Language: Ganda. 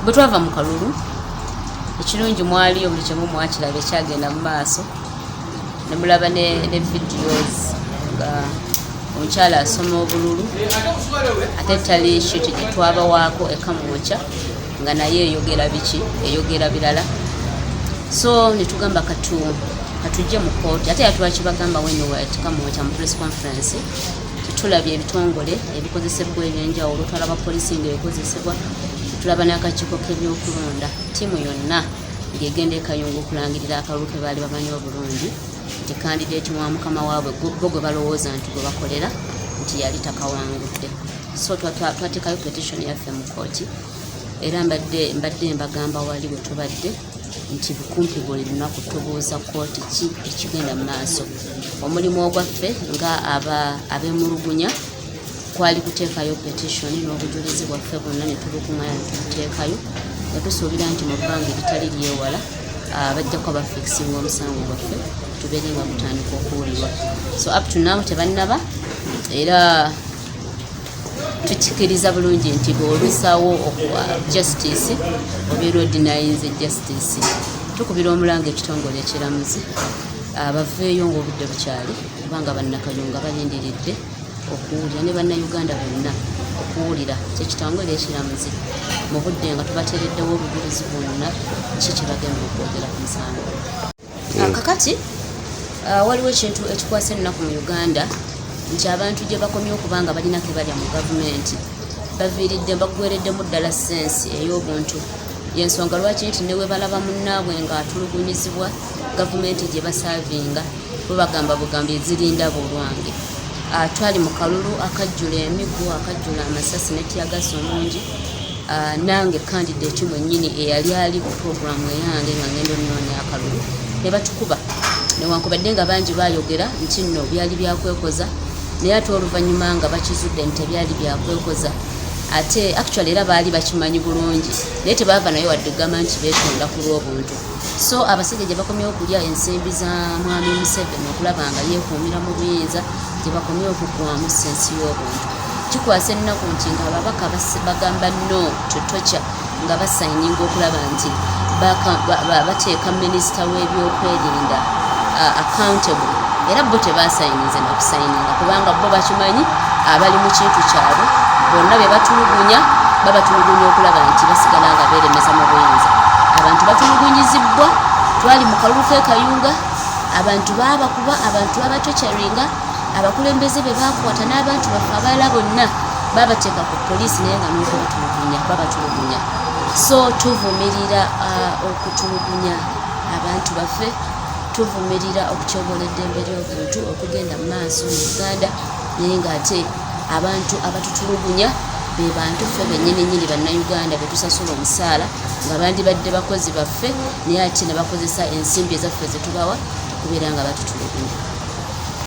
bwe twava mu kalulu ekirungi mwaliyo buli kimu mwakiraba ekyagenda mu maaso ne mulaba ne videos nga omukyala asoma obululu ate tali shiti gye twabawaako ekamwokya nga naye eyogera biki eyogera birala so netugamba katu katujje mu kooti ate yatwakibagamba wenewetkamwokya mu press conference tulabye ebitongole ebikozesebwa ebyenjawulo tulaba poliisi nga ekozesebwa tulaba n'akakiiko k'ebyokulonda ttiimu yonna ng'egenda ekayunga okulangirira akalulu ke baali bamanyi obulungi nti kandideeti wa mukama waabwe bo gwe balowooza nti gwe bakolera nti yali takawangudde so twateekayo petitioni yaffe mu kooti era mbadde mbadde mbagamba wali bwe tubadde nti kumpi buli lunaku tubuuza kkooti ki ekigenda mu maaso omulimu ogwaffe nga aba abemulugunya kwali kuteekayo petitioni n'obujulizi bwaffe bwonna ne tubukungana ne tubuteekayo nga tusuubira nti mu bbanga ebitali lyewala ah, bajja kuba bafikisinga omusango gwaffe tubeere nga gutandika okuwulirwa so up to now tebannaba era tukikiriza bulungi nti bwolusawo okuwa justice obeera odinayinze justice tukubira omulanga ekitongole ekiramuzi abaveeyo ngaobudde bukyali kubanga bannakayunga balindiridde okuwulira ne bannayuganda bonna okuwulira kyekitangole ekiramuzi mu budde nga tubateereddewo obujulizi bwonna ki kyebagenda okwogera ku musango Ah, kakati ah, waliwo ekintu ekikwasa ennaku mu uganda nti abantu gye bakomye okuba nga balina ke balya mu gavumenti baviiridde baggwereddemu ddala sensi ey'obuntu yensonga lwaki nti ne webalaba munnaabwe ng'atulugunyizibwa gavumenti gye basaavinga bwe bagamba bugambo ezirinda bulwange ah, twali mu kalulu akajjula emiggo akajjula amasasi netyagasa omungi Ah, nange kandidate mwenyini eyali ali ku programu eyange nga ngenda onoonya akalulu ne batukuba newankubadde nga bangi baayogera nti nno byali byakwekoza naye ate oluvannyuma nga bakizudde nti tebyali byakwekoza ate actually era baali bakimanyi bulungi naye tebaava naye wadde ogamba nti beetonda ku lw'obuntu so abasajja gye bakomye okulya ensimbi za mwami museveni okulaba nga yeekuumira mu buyinza gye bakomye okugwamu sensi y'obuntu kikwasa ennaku nti nga ababaka bagamba no to tocha nga basayininga okulaba nti bateeka minisita w'ebyokwerinda accountable era bo tebasayinize nakusayininga kubanga bo bakimanyi abali mu kintu kyabwe bonna be batulugunya babatulugunya okulaba nti basigala nga beeremeza mu buyinza abantu batulugunyizibbwa twali mu kalulu kekayunga abantu baabakuba abantu babatocaringa abakulembeze be bakwata n'abantu baffe abalala bonna babateeka ku poliisi naye nga n'okubatulugunya babatulugunya so tuvumirira uh, okutulugunya abantu baffe tuvumirira okutyobola eddembe ly'obuntu okugenda mu maaso mu uganda naye ng'ate abantu abatutulugunya be bantu ffe bennyini nyini bannayuganda be tusasula omusaala nga bandibadde bakozi baffe naye ate ne bakozesa ensimbi ezaffe ze tubawa okubeera nga batutulugunya